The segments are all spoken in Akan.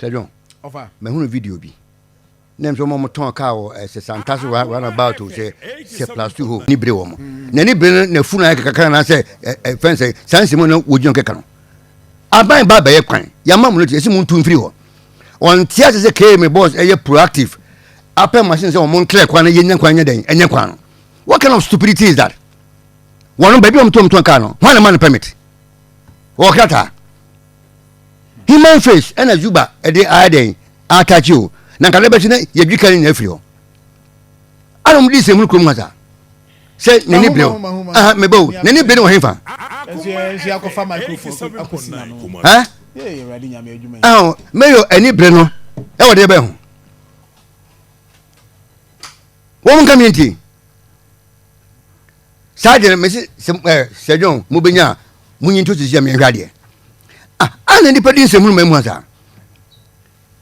Sir John, mahunu video bi na ɛmsɛ wɔn tɔn kaa wɔ ɛsɛ santa so run about o sɛ sɛ plus two hɔ ni bere wɔn na ni bere na funu ayɛ kakra na sɛ ɛ fɛn sɛ saa nsɛm na wogyina kɛkɛ no aban ba bɛyɛ kwan yamma mu no te ɛsɛ mu ntu mfiri hɔ wɔn te ase sɛ km boss ɛyɛ proactive apɛ machine sɛ wɔn ntrɛ kwan na yɛ nya kwan nyɛ dɛn ɛnyɛ kwan no what kind of stupidity is that wɔn baabi wɔn tɔn tɔn kaa no wɔn na ma no permit wɔkrataa. human face ɛna zuba ɛde ayɛ dɛn atakye o na nka dɛbɛkye na yɛdwi ka ne nyinaa firi hɔ ana ɔmo de sɛ mu no kurom ha saa sɛ n'ani bere o aha meba o n'ani bere wɔ he fa ɛhɔ mɛyɔ ani bere no ɛwɔ deɛ bɛn ho wɔn nka mi nti saa deɛ no mese sɛ eh, sɛ john mobɛnya a monyi nto sisi a meɛnhwɛ adeɛ ah, ana nnipa di nsɛm no ma mu a saa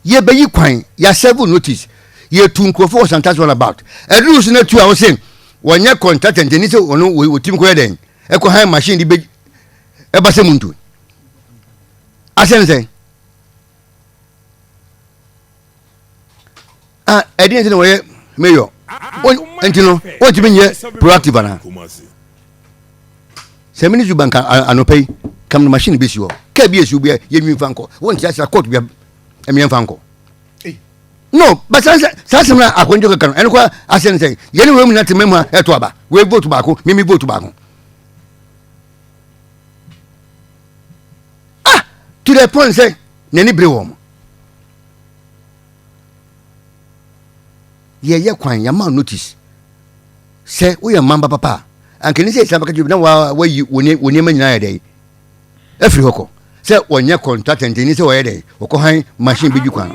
yɛbɛyi kwan yɛasɛvo notice yɛtu nkurɔfoɔ wɔ santas run about ɛduru so no atu a wo se wɔnyɛ contatant ɛni sɛ ɔno wɔtim kɔyɛ dɛn ɛkɔ han machine de bɛ ɛba sɛ mu ntu asɛm sɛn ah ɛdi yɛn ti na wɔyɛ mayor nti no wɔntumi nyɛ proactive ana sɛ ministry bank anɔpɛ yi kam no machine bɛsi hɔ kaa bi ɛsiw bi yɛnwi mfa nkɔ wɔnte asra court bia ɛmeɛ mfa nkɔ no but saa saa sɛm na akɔnjɔ kɛkɛ no ɛno kɔ asɛ ne sɛ yɛne wei mu na te mɛmu a ɛto aba wei vote baako mimi vote baako ah to the point sɛ n'ani bere wɔn yɛyɛ kwan yɛama notice sɛ woyɛ mmamba papa a anka ne sɛ ɛsɛ bɛka kyerɛ na wayi wo nneɛma nyinaa yɛ dɛn afiri hɔ kɔ sɛ wɔnyɛ kɔntrata ntɛni sɛ wɔyɛ dɛn wɔkɔhan machine bɛdwi kwan no